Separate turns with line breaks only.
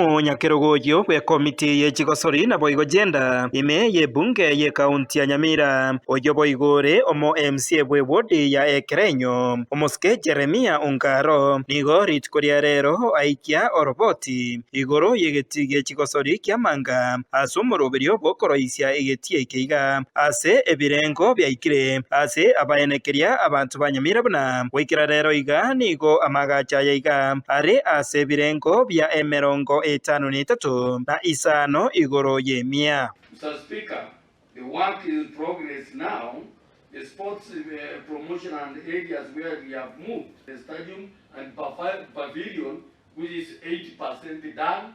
Omonyakerogorio bw'ekomiti ye chigosori naboigo Gender ime y'ebunge y'ekaunti ya Nyamira, oyio boigo ore omo MCA bw'ewodi ya Ekerenyo, Omosike Jeremia Ongaro, nigo rituko ria rero aikia oroboti igoro y'egetii gie chigosori ki'amanga ase omoroberio bw'okoroisia egetie eke iga, ase ebirengo biaikire ase abaene keria abanto banyamire buna goikera reero iga, nigo amaagacho aya iga are ase ebirengo bia emerongo etano na etato na isano igoro y'emia. Mister Speaker,
the work in progress now, the sports promotion and areas where we have moved the stadium and pavilion which is 80% done,